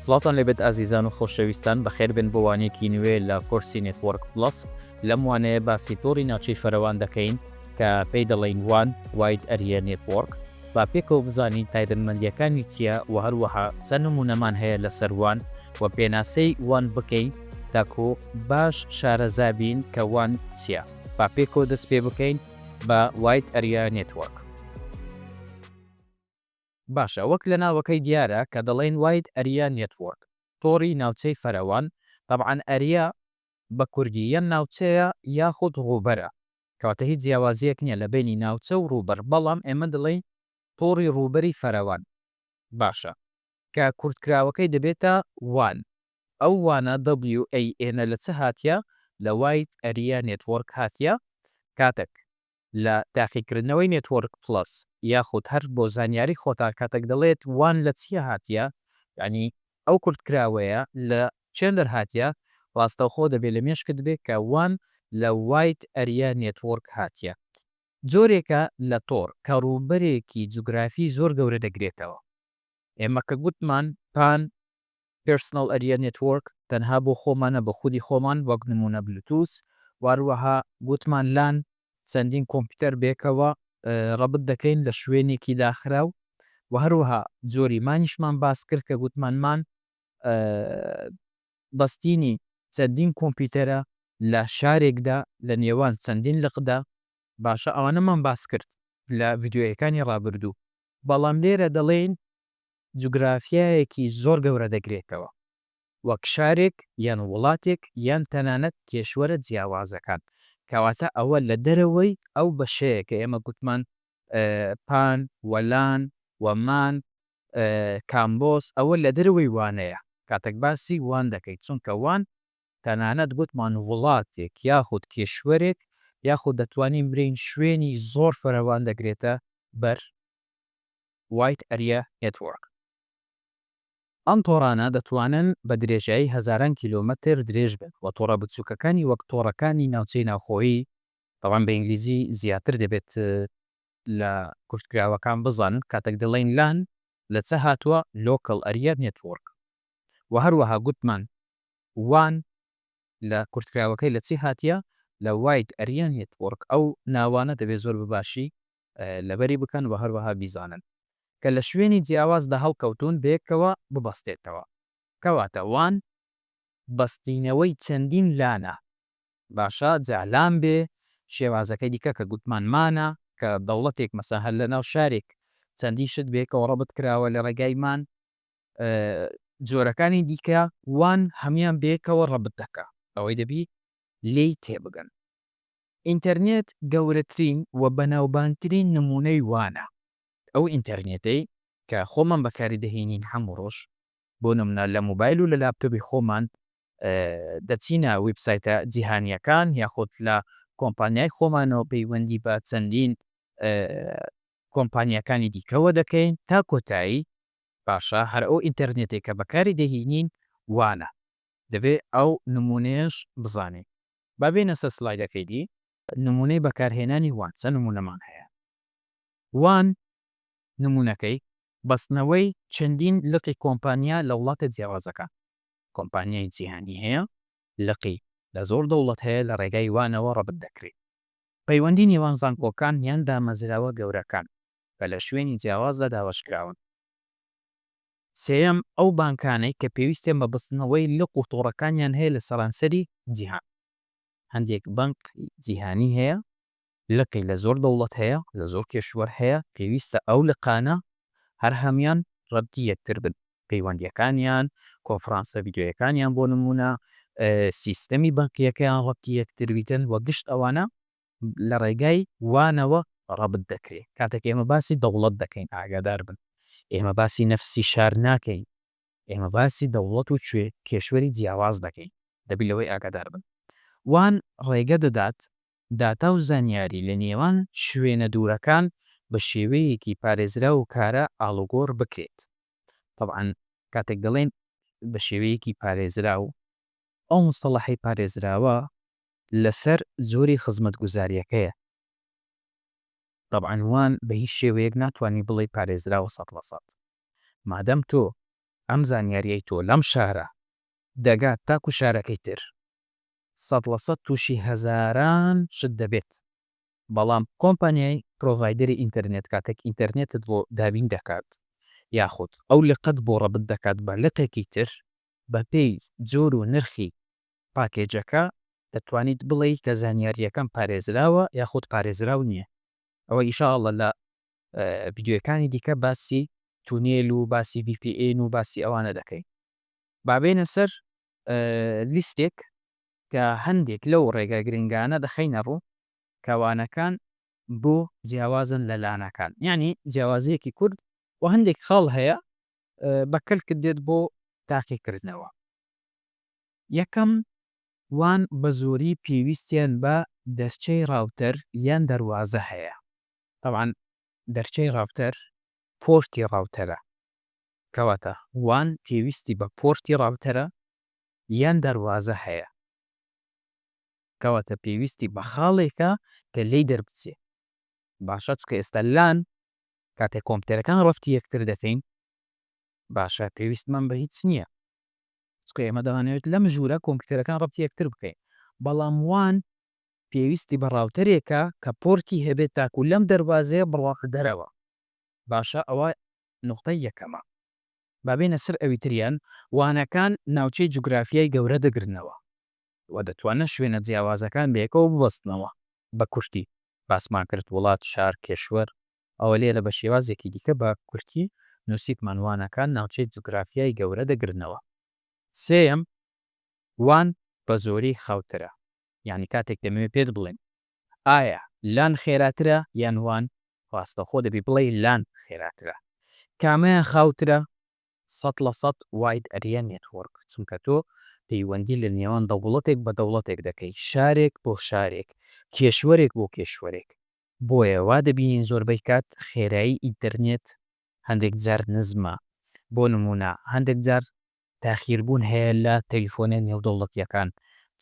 سڵاوتان لێبێت ئازیزان و خۆشەویستان بەخێربێن بۆ وانەیەکی نوێ لە کۆرسی نێتوەڕک پڵەس لەم وانەیە باسی تۆڕی ناوچەی فەرەوان دەکەین کە پێی دەڵێین وان واید ئەریە نێتوەڕک با پێکەوە بزانین تایبەتمەندیەکانی چیە وە هەروەها چەند نمونەمان هەیە لەسەر وان وە پێناسەی وان بکەین تاکو باش شارەزابین کە وان چیە با پێکەوە دەست پێ بکەین بە واید ئەریە نێتوەڕک. باشە وەک لە ناوەکەی دیارە کە دەڵێن واید ئەریا نێتوۆرک تۆڕی ناوچەی فەرەوان تەبعەن ئەریا بە کوردی یان ناوچەیە یاخود ڕووبەرە کەواتە هیچ جیاوازیەک نیە لە بەینی ناوچە و ڕووبەر بەڵام ئێمە دەڵێین تۆڕی ڕووبەری فەرەوان باشە کە کورتکراوەکەی دەبێتە وان ئەو وانە WAN-ە لە چ هاتیە لە واید ئەریا نێتوۆرک هاتیە کاتەک لە تاقیکردنەوەی نێتوۆرک پڵەس یاخود هەر بۆ زانیاری خۆتان کاتەک دەڵێت وان لە چیە هاتیە یانی ئەو کورتکراوەیە لە چێن دەرهاتیە ڕاستەوخۆ دەبێ لە مێشکت بێ کە وان لە وایت ئەریا نێتوۆرک هاتیە جۆرێکە لە تۆڕ کە ڕووبەرێکی جوگرافی زۆر گەورە دەگرێتەوە ئێمە کە گوتمان پان Personal Area Network، تەنها بۆ خۆمانە بە خودی خۆمان وەک نمونە بلوتوس واروەها گوتمان لان چەندین کۆمپیوتەر بێکەوە ڕەبت دەکەین لە شوێنێکی داخراو وە هەروەها جۆری مانیشمان باس کرد کە گوتمان مان بەستینی چەندین کۆمپیوتەرە لە شارێکدا لە نێوان چەندین لقدا باشە ئەوانەمان باس کرد لە ڤیدیۆیەکانی ڕابردوو بەڵام لێرە دەڵێین جوگرافیایەکی زۆر گەورە دەگرێتەوە، وەک شارێک یان وڵاتێک یان تەنانەت کێشوەرە جیاوازەکان، کەواتە ئەوە لە دەرەوەی ئەو بەشەیە کە ئێمە گوتمان پان، وەلان، وەمان، کامبۆس، ئەوە لە دەرەوەی وانەیە کاتێک باسی وان دەکەین، چونکە وان تەنانەت گوتمان وڵاتێک یاخود کێشوەرێک یاخود دەتوانین برێین شوێنی زۆر فراوان دەگرێتە بەر، Wide Area Network. ئەم تۆڕانە دەتوانن بە درێژایی هەزاران کیلۆمەتر درێژ بن و تۆڕە بچووکەکانی وەک تۆڕەکانی ناوچەی ناوخۆیی، تەبعەن بە ئینگلیزی زیاتر دەبێت، لە کورتکراوەکان بزانن کاتێک دەڵێین لان لە چ هاتووە، Local Area Network، و هەروەها گوتمان وان لە کورتکراوەکەی لە چی هاتیە، لە Wide Area Network، ئەو ناوانە دەبێت زۆر بە باشی لەبەری بکەن و هەروەها بیزانن کە لە شوێنی جیاوازدا هەڵکەوتوون بەیەکەوە ببەستێتەوە کەواتە وان بەستینەوەی چەندین لانە باشە جا لان بێ شێوازەکەی دیکە کە گوتمان مانە کە دەوڵەتێک مەسە هەر لەناو شارێک چەندین شت بەیەکەوە ڕەبت کراوە لە ڕێگای مان جۆرەکانی دیکە وان هەمیان بەیەکەوە ڕەبت دەکا ئەوەی دەبی لێی تێبگەن. ئینتەرنێت گەورەترین و بەناوبانگترین نموونەی وانە. ئەو ئینتەرنێتەی کە خۆمان بەکاری دەهێنین هەموو ڕۆژ، بۆ نموونە لە مۆبایل و لە لاپتۆبی خۆمان دەچینە ویبسایتە جیهانییەکان یاخود لە کۆمپانیای خۆمانەوە پەیوەندی بە چەندین کۆمپانیاکانی دیکەوە دەکەین تا کۆتایی، باشە هەر ئەو ئینتەرنێتەی کە بەکاری دەهینین وانە. دەبێت ئەو نموونەیەش بزانین. با بێینە سەر سلایدەکەی دی. نموونەی بەکارهێنانی وان چەند نموونەمان هەیە. وان نموونەکەی بەستنەوەی چەندین لقی کۆمپانیا لە وڵاتە جیاوازەکان. کۆمپانیای جیهانی هەیە، لقی لە زۆر دەوڵەت هەیە لە ڕێگای وانەوە ڕەبت دەکرێ. پەیوەندی نێوان زانکۆکان یان دامەزراوە گەورەکان کە لە شوێنی جیاوازدا دابەشکراون. سێیەم، ئەو بانکانەی کە پێویستیان بە بەستنەوەی لق و تۆڕەکانیان هەیە لە سەرانسەری جیهان. هەندێک بانقی جیهانی هەیە لقی لە زۆر دەوڵەت هەیە، لە زۆر کێشوەر هەیە، پێویستە ئەو لقانە هەر هەمان ڕەبتی یەکتر بن، پەیوەندییەکانیان، کۆنفرانسە ڤیدیۆییەکانیان بۆ نموونە، سیستەمی بانکییەکەیان ڕەبتی یەکتر بیتن و گشت ئەوانە لە ڕێگای وانەوە ڕەبت دەکرێ کاتێک ئێمە باسی دەوڵەت دەکەین ئاگادار بن ئێمە باسی نەفسی شار ناکەین ئێمە باسی دەوڵەت و کوێ کێشوەری جیاواز دەکەین دەبی لەوەی ئاگادار بن وان ڕێگە دەدات داتا و زانیاری لە نێوان شوێنە دوورەکان بە شێوەیەکی پارێزراو و کارا ئاڵوگۆڕ بکرێت تەبعەن کاتێک دەڵێن بە شێوەیەکی پارێزراو ئەو مستەڵەحەی پارێزراوە لەسەر جۆری خزمەتگوزاریەکەیە. تەبعەن وان بە هیچ شێوەیەک ناتوانی بڵێی پارێزراوە سەد لە سەد. مادەم تۆ ئەم زانیاریەی تۆ لەم شارە دەگات تاکو شارەکەی تر سەد لە سەد توشی هەزاران شت دەبێت. بەڵام کۆمپانیای پرۆڤایدەری ئینتەرنێت کاتێک ئینتەرنێتت بۆ دابین دەکات یاخود ئەو لقەت بۆ ڕەبت دەکات بە لقێکی تر بە پێی جۆر و نرخی پاکێجەکە، دەتوانیت بڵێی کە زانیارییەکەم پارێزراوە یاخود پارێزراو نییە. ئەوە ان شاء اللە لە ڤیدیۆیەکانی دیکە باسی تونێل و باسی ڤی پی ئێن و باسی ئەوانە دەکەین. با بێینە سەر لیستێک کە هەندێک لەو ڕێگا گرنگانە دەخەینە ڕوو کە وانەکان بۆ جیاوازن لە لانەکان. یانی جیاوازییەکی کورت و هەندێک خاڵ هەیە بە کەلکت دێت بۆ تاقیکردنەوە. یەکەم، وان بە زۆری پێویستیان بە دەرچەی ڕاوتەر یان دەروازە هەیە، تەبعەن دەرچەی ڕاوتەر پۆرتی ڕاوتەرە، کەواتە وان پێویستی بە پۆرتی ڕاوتەرە یان دەروازە هەیە، کەواتە پێویستی بە خاڵێکە کە لێی دەربچێ، باشە چونکە ئێستا لان کاتێک کۆمپیوتەرەکان ڕەفتی یەکتر دەکەین باشە پێویستمان بە هیچ نییە، چونکە ئێمە دەهانەوێت لەم ژوورە کۆمپیوتەرەکان ڕەبتی یەکتر بکەین بەڵام وان پێویستی بە ڕاوتەرێکە کە پۆرتی هەبێت تاکو لەم دەروازەیە بڕواتە دەرەوە باشە ئەوە نوختەی یەکەمە با بێنە سەر ئەوی تریان وانەکان ناوچەی جوگرافیای گەورە دەگرنەوە وە دەتوانن شوێنە جیاوازەکان بەیەکەوە ببەستنەوە بە کورتی باسمان کرد وڵات شار کێشوەر ئەوە لێرە بە شێوازێکی دیکە بە کورتی نووسیتمان وانەکان ناوچەی جوگرافیای گەورە دەگرنەوە. سێیەم، وان بە زۆری خاوترە، یانی کاتێک دەمەوێت پێت بڵێم ئایا لان خێراترە یان وان، ڕاستەوخۆ دەبی بڵێی لان خێراترە. کامەیان خاوترە؟ سەد لە سەد واید ئەریا نێتوۆرک، چونکە تۆ پەیوەندی لە نێوان دەوڵەتێک بە دەوڵەتێک دەکەی، شارێک بۆ شارێک، کێشوەرێک بۆ کێشوەرێک. بۆیە وا دەبینین زۆربەی کات خێرایی ئینتەرنێت هەندێک جار نزمە، بۆ نموونە هەندێک جار تاخیربوون هەیە لە تەلیفۆنە نێودەوڵەتییەکان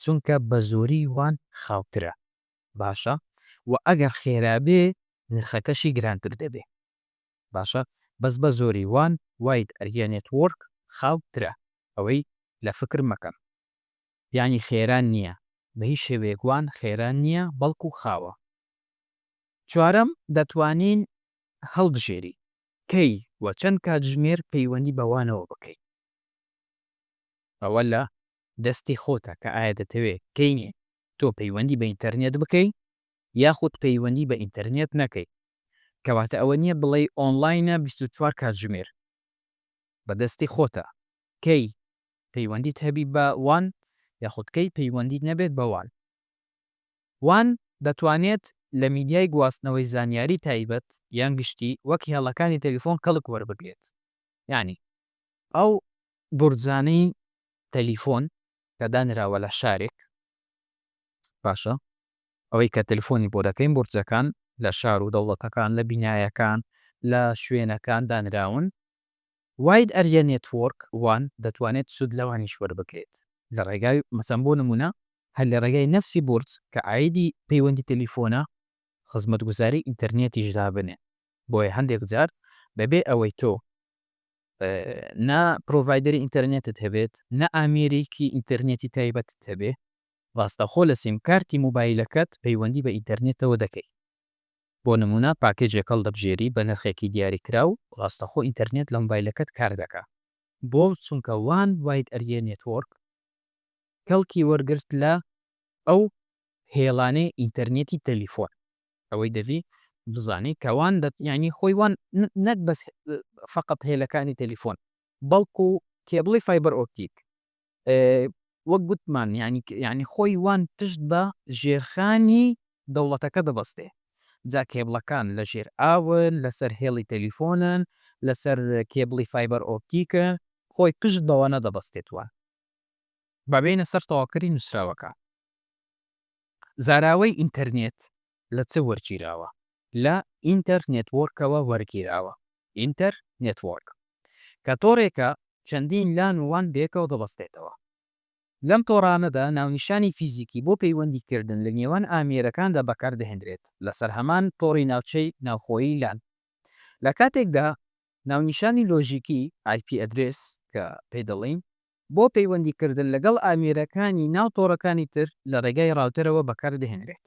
چونکە بە زۆری وان خاوترە باشە و ئەگەر خێرا بێ نرخەکەشی گرانتر دەبێ باشە بەس بە زۆری وان وایت ئەریە نێتوۆرک خاو ترە ئەوەی لە فکر مەکەن. یانی خێرا نییە، بە هیچ شێوەیەک وان خێرا نییە بەڵکو خاوە. چوارەم، دەتوانین هەڵبژێری کەی و چەند کاتژمێر پەیوەندی بە وانەوە بکەین. ئەوە لە دەستی خۆتە کە ئایا دەتەوێت کەی تۆ پەیوەندی بە ئینتەرنێت بکەی یاخود پەیوەندی بە ئینتەرنێت نەکەی. کەواتە ئەوە نییە بڵێی ئۆنڵاینە بیست و چوار کاتژمێر. بە دەستی خۆتە کەی پەیوەندیت هەبی بە وان یاخود کەی پەیوەندیت نەبێت بە وان. وان دەتوانێت لە میدیای گواستنەوەی زانیاری تایبەت یان گشتی وەک هێڵەکانی تەلیفۆن کەڵک وەربگرێت یانی ئەو بورجانەی تەلیفۆن کە دانراوە لە شارێک باشە ئەوەی کە تەلیفۆنی بۆ دەکەین بورجەکان لە شار و دەوڵەتەکان لە بینایەکان لە شوێنەکان دانراون واید ئەریا نێتوۆرک وان دەتوانێت سود لەوانیش وەربگرێت لە ڕێگای مەسەن بۆ نمونە هەر لە ڕێگای نەفسی بورج کە عایدی پەیوەندی تەلیفۆنە خزمەتگوزاری ئینتەرنێتیش دابنێن بۆیە هەندێک جار بەبێ ئەوەی تۆ نا پرۆڤایدەری ئینتەرنێتت هەبێت نا ئامێرێکی ئینتەرنێتی تایبەتت هەبێ ڕاستەخۆ لە سیمکارتی موبایلەکەت پەیوەندی بە ئینتەرنێتەوە دەکەی. بۆ نموونە پاکێجێک هەڵدەبژێری بە نرخێکی دیاریکراو ڕاستەخۆ ئینتەرنێت لە مۆبایلەکەت کاردەکا. بۆ؟ چونکە وان واید ئەریێ نێتوۆرک کەڵکی وەرگرت لە. ئەو هێڵانەی ئینتەرنێتی تەلیفۆن. ئەوەی دەبی بزانی کە وان دەت یانی خۆی وان نەک بەس فەقەت هێلەکانی تەلیفۆن بەڵکوو کێبڵی فایبەر ئۆپتیک وەک گوتمان یانی یانی خۆی وان پشت بە ژێرخانی دەوڵەتەکە دەبەستێ جا کێبڵەکان لە ژێر ئاون لەسەر هێڵی تەلیفۆنن لەسەر کێبڵی فایبەر ئۆپتیکە خۆی پشت بەوە نەدەبەستێت وان بابێنە سەر تەواوکەری نووسراوەکە زاراوەی ئینتەرنێت لە چ وەرگیراوە؟ لە ئینتەر نێتوۆرکەوە وەرگیراوە. ئینتەر نێتوۆرک کە تۆڕێکە چەندین لان و وان بەیەکەوە دەبەستێتەوە. لەم تۆڕانەدا ناونیشانی فیزیکی بۆ پەیوەندی کردن لە نێوان ئامێرەکاندا بەکار دەهێندرێت لەسەر هەمان تۆڕی ناوچەی ناوخۆیی لان. لە کاتێکدا ناونیشانی لۆژیکی، ئای پی ئەدرێس، کە پێی دەڵێین، بۆ پەیوەندی کردن لەگەڵ ئامێرەکانی ناو تۆڕەکانی تر لە ڕێگای ڕاوتەرەوە بەکار دەهێنرێت.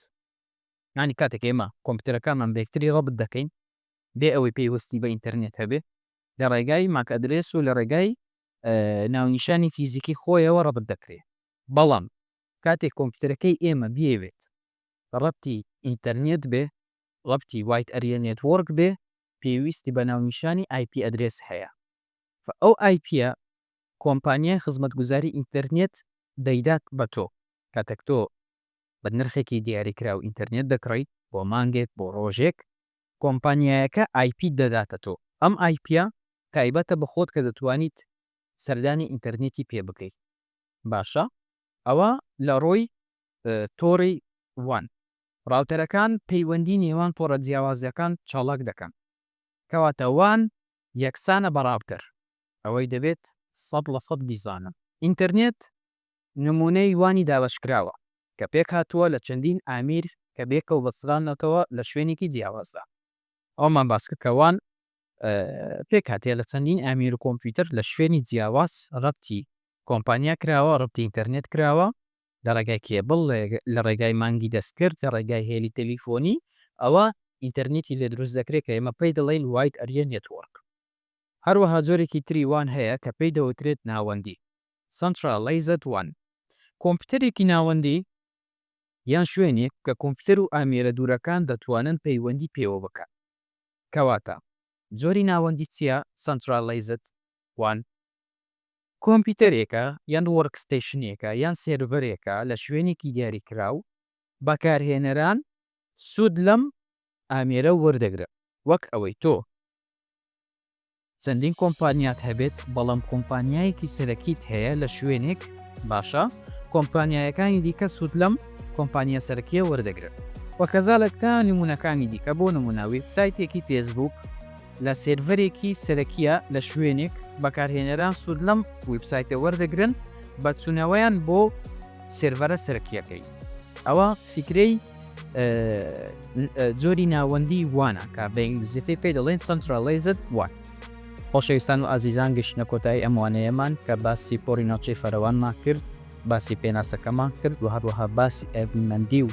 یانی کاتێک ئێمە کۆمپیوتەرەکانمان بە یەکتری ڕەبت دەکەین بێ ئەوەی پەیوەستی بە ئینتەرنێت هەبێ لە ڕێگای ماک ئەدرێس و لە ڕێگای ناونیشانی فیزیکی خۆیەوە ڕەبت دەکرێ بەڵام کاتێک کۆمپیوتەرەکەی ئێمە بیەوێت ڕەبتی ئینتەرنێت بێ ڕەبتی وایت ئەریە نێتوۆرک بێ پێویستی بە ناونیشانی ئایپی ئەدرێس هەیە ئەو ئایپیە کۆمپانیای خزمەتگوزاری ئینتەرنێت دەیدات بە تۆ. کاتێک تۆ بە نرخێکی دیاریکراو ئینتەرنێت دەکڕیت بۆ مانگێک، بۆ ڕۆژێک، کۆمپانیایەکە ئای پیت دەداتە تۆ. ئەم ئای پییە تایبەتە بە خۆت کە دەتوانیت سەردانی ئینتەرنێتی پێ بکەیت. باشە ئەوە لە ڕووی تۆڕی وان. ڕاوتەرەکان پەیوەندی نێوان تۆڕە جیاوازەکان چاڵاک دەکەن. کەواتە وان یەکسانە بە ڕاوتەر. ئەوەی دەبێت سەد لە سەد بیزانم. ئینتەرنێت نموونەی وانی دابەشکراوە کە پێکهاتووە لە چەندین ئامیر کە بێکەوە بەستراونەتەوە لە شوێنێکی جیاوازدا. ئەوەمان باسکرد کە وان پێکهاتەیە لە چەندین ئامیر و کۆمپیوتەر لە شوێنی جیاواز رەبتی کۆمپانیا کراوە، رەبتی ئینتەرنێت کراوە لە رێگای کێبڵ، لە رێگای مانگی دەستکرد، لە رێگای هێلی تەلیفۆنی، ئەوە ئینتەرنێتی لێ دروست دەکرێت کە ئێمە پێی دەڵێین وایت ئەریا نێتوۆرک. هەروەها جۆرێکی تری وان هەیە کە پێی دەوترێت ناوەندی، Centralized wan، کۆمپیوتەرێکی ناوەندی یان شوێنێک کە کۆمپیوتەر و ئامێرە دوورەکان دەتوانن پەیوەندی پێوە بکەن. کەواتە جۆری ناوەندی چییە، Centralized wan؟ کۆمپیوتەرێکە یان وۆرکستەیشنێکە یان سێرڤەرێکە لە شوێنێکی دیاریکراو بەکارهێنەران سوود لەم ئامێرە وەردەگرن وەک ئەوەی تۆ چەندین کۆمپانیات هەبێت بەڵام کۆمپانیایەکی سەرەکیت هەیە لە شوێنێک باشە کۆمپانیایەکانی دیکە سود لەم کۆمپانیا سەرەکیە وەردەگرن وە کەزالەکە نمونەکانی دیکە بۆ نمونە وێبسایتێکی فێسبوک لە سێرڤەرێکی سەرەکیە لە شوێنێک بەکارهێنەران سود لەم وێبسایتە وەردەگرن بە چونەوەیان بۆ سێرڤەرە سەرەکیەکەی ئەوە فیکرەی جۆری ناوەندی وانە کە بە ئینگلیزیەکەی پێی دەڵێن سەنتراڵەیزد وان. خۆشەویستان و ئازیزان گەشتنە کۆتایی ئەم وانەیەمان کە باسی پۆڕی ناوچەی فەرەوانمان کرد، باسی پێناسەکەمان کرد و هەروەها باسی ئەڤیمەندی و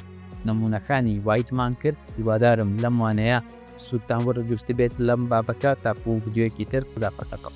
نموونەکانی وایتمان کرد، هیوادارم لەم وانەیە سوودتان وەرگرتبێت لەم بابەتە، تاکوو ڤیدیۆیەکی تر خودافەتەکەم.